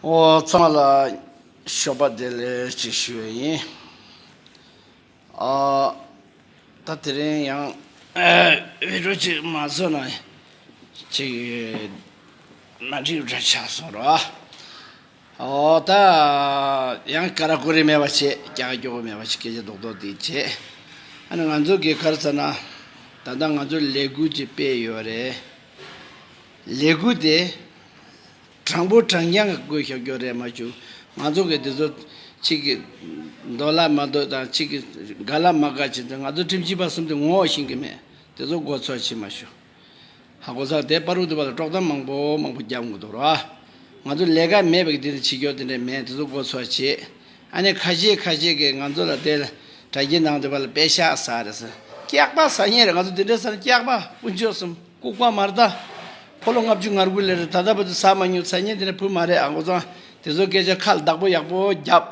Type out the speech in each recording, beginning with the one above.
འོ་ཚང་མ་ལ་ཞོགས་པ་བདེ་ལེགས་ཅིག་ཞུ་ཡས་ཡིན། ད་དེ་རིང་ཡང་བོད་ཕྲུག་ཅིག་མ་བཟོས་ན་ཅིག་མ་འགྲིག་འདྲ་ཆགས་སོང་ར། འོ་ད་ཡང་ཀ་ར་ཀོ་རི་མེད་པ་བྱས་ཀྱག་ཀྱོག་མེད་པ་ཞིག་སྐད་ཆ་རྡོག་རྡོག་དེ་བྱས། ཨ་ནི་ང་ཚོ་གི་གར་ས་ན་ད་ལྟ་ང་ཚོ་ལས་འགུལ་ཅིག་སྤེལ་ཡོད་རེད། ལས་འགུལ་དེ་དྲང་པོ་དྲང་རྐྱང་གི་སྒོས་ཤོག་ཀྱོག་རེད་མ་བྱུང། ང་ཚོ་གིས་འདི་ཚོ་གཅིག་གིས་འདོད་ལ་མ་འདོད་དང་གཅིག་གིས་དགའ་ལ་མ་དགའ་བྱས་ཏེ་ང་ཚོ་ཁྲིམས་ཞིབ་པ་གསུམ་དེ་ངོ་བོ་ཞེན་གྱི་མེད། དེ་ཚོ་མགོ་འཚོས་བྱེད་མ་ཤོག། ཧ་གོ་ས་དེ་དཔའ་རུ་ཐུབ་པ་ལ་དཀྲོག་གཏམ་མང་པོ་མང་པོ་རྒྱབ་མགོ་འདོགས་རོགས་ཨ། ང་ཚོ་ལས་ཀ་མེད་པ་གི་དེ་འདྲའི་བྱེད་ཀྱོག་དེ་འདྲ་མེད་དེ་ཚོ་མགོ་འཚོས་བྱེད། ཨ་ནི་ཁ་ཤས་ཁ་ཤས་ཀྱིས་ང་ཚོ་ལ་དེ་ལ་དྲ་རྒྱའི་ནང་དུ་བ་ལ་དཔེ་ཤག་ས་རེད་ས་སྐྱག་པ་ཟ་ཉེན་རེད་ང་ཚོ་འདི་འདྲའི་སར་སྐྱག་པ་དཀོན་མཆོག་གསུམ། ལྐུགས་པ་མར་ལྟ། ཕོ་ལོ་ལྔ་བཅུ་ངར་དགུ་ལེར་ད་ལྟ་བུ་དེ་ཟ་མ་མྱོང་ཚད་ཉིན་དེ་ནས་བུ་མ་རེད་ཨ་མགོ་བཟང་དེ་ཚོ་སྐད་ཆ་ཁ་བདག་པོ་ཡག་པོ་རྒྱབ།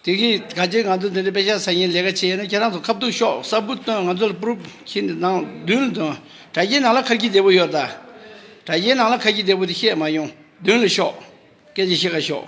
དེ་གིས་ག་ལྕེ་ང་ཚོ་འདི་འདྲ་དཔེ་ཤ་ཟ་མཁན་ལས་ཀ་བྱེད་ཡས་ན་ཁྱེད་རང་ཚོ་ཁ་བསྡུར་ཤོག་གསར་བུ་སྟོན་ང་ཚོ་ལ་པུརུབ་ཁྱི་འདི་ནང་མདུན་ལ་འདོན་དྲ་རྒྱའི་ནང་ལ་ཁ་ཁྱི་བདེ་པོ་ཡོད་ད། དྲ་རྒྱའི་ནང་ལ་ཁ་ཁྱི་བདེ་པོ་དེ་བཤད་མ་མྱོང་མདུན་ལ་ཤོག་སྐད་ཆ་བཤད་ཁ་ཤོག།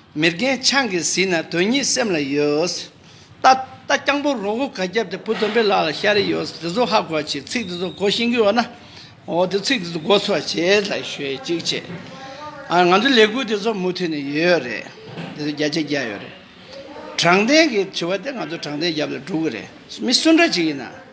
མི་རྒན་ཆང་གིས་བཟི་ན་དོན་སྙིང་སེམས་ལ་ཡོད། རྟ། རྟ་རྐྱང་པོ་རོང་བོ་ག་རྒྱབ་དེ་བུ་དོན་པའི་ལག་ལ་ཤ་རེ་ཡོད། དེ་ཚོ་ཧ་གོ་བྱེད་ཚིག་དེ་ཚོ་གོ་ཤེས་གི་ཡོད་ན། འོ་དེ་ཚིག་དེ་ཚོ་གོ་ཚོ་བྱེད་ལ་ཤོད་ཅིག་བྱེད། ཨ་ང་ཚོ་ལས་འགུལ་དེ་ཚོ་མུ་མཐུད་ནས་ཡོད་རེད། དེ་ཚོ་རྒྱ་ཆ་རྒྱག་ཡོད་རེད། དྲང་བདེན་གྱི་དྲི་བ་དེ་ང་ཚོ་དྲང་བདེན་རྒྱབ་ལ་འགྲོ་གི་རེད། མི་སུ་འདྲ་ཅིག་ཡིན་ན།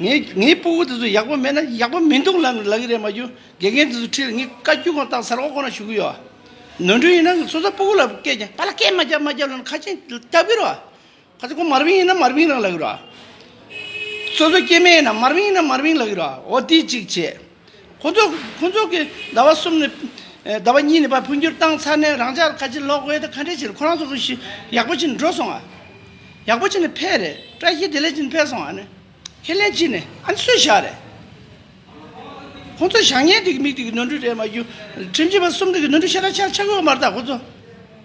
ངས་ངའི་སྤུ་བོ་དེ་ཚོ་ཡག་པོ་མེད་ན་ཡག་པོ་མི་འདུག་ལབ་ནས་ལབ་ཀྱི་རེད་མ་གྱུར་དགེ་རྒན་དེ་ཚོ་ཁྲིད་ལ་ངས་བཀའ་བརྒྱུད་ཁོང་བཏང་ཚར་འོག་ཁོ་རང་བཞུགས་ཀྱི་ཡོད་ཨ། ནོར་འཁྲུལ་ཡིན་ན་སོ་སོ་སྤུ་བོ་ལ་སྐད་ཀྱང་པ་ལ་སྐད་མ་རྒྱབ་མ་རྒྱབ་ལབ་ན་ཁ་ཆེམས་རྒྱབ་ཀྱི་རེད་ཨ། ཁ་ཆེམས་ཁོང་མར་བིང་ཡིན་ན་མར་བིང་རང་ལབ་ཀྱི་རེད་ཨ། སོ་སོ་སྐྱེས་དམན་ཡིན་ན་མར་བིང་ཡིན་ན་མར་བིང་ལབ་ཀྱི་རེད་ཨ་འོ་འདི་གཅིག་བྱས། ཁོ་ཚོ་གིས་ཟླ་བ་གསུམ་ནས་ཟླ་བ་གཉིས་བར་འཕོ་འགྱུར་བཏང་ཚར་ནས་རང་ཅག་ལ་ཁ་ཆེ་ལོག་དབེ་དང་ཁ་འབྲལ་བྱེད་ཁོ་རང་ཚོ་གཞི་ཡག་པོ་བྱེད་འགྲོ་སོང་ཨ། ཡག་པོ་བྱེད་ནས་ཕེ་རེད་བཀྲ་ཤིས་བདེ་ལེགས་བྱེད་ནས་ཕེ་སོང་ཨ་ནི། ཁས་ལེན་བྱེད་ནས་ཨ་ནི་སུས་བཞག་རེད། ཁོ་ཚོ་བཞག་ཉལ་དེ་གི་མིག་དེ་གི་ནོར་འཁྲུལ་རེད་མ་རྒྱུ། ཁྲིམས་བྱེད་པ་གསུམ་དེ་གི་ནོར་འཁྲུལ་ཤ་ཁྲག་ཆར་ཆག་གི་འོ་མ་རེད་ད་ཁོ་ཚོ།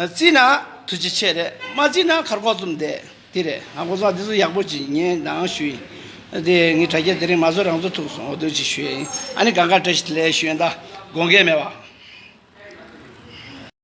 བརྩིས་ན་ཐུགས་རྗེ་ཆེ་རེད་མ་བརྩིས་ན་ཁར་ཁོག་བཙུམ་བསྡད་དེ་རེད་ང་ཀོ་བཟང་འདི་ཚོ་ཡག་པོ་ཅིག་ཉན་དང་ཞུ་ཡིན་དེ་ངའི་དྲ་རྒྱ་དེ་རིང་མ་བཟོ་རང་ཚོ་ཐུགས་སོང་དོན་ཅིག་ཞུ་ཡ་ཡིན་ཨ་ནི་ག་འགའ་བཀྲ་ཤིས་ལས་ཞུ་ཡོད་ད་དགོངས་འགལ་མེད་བ།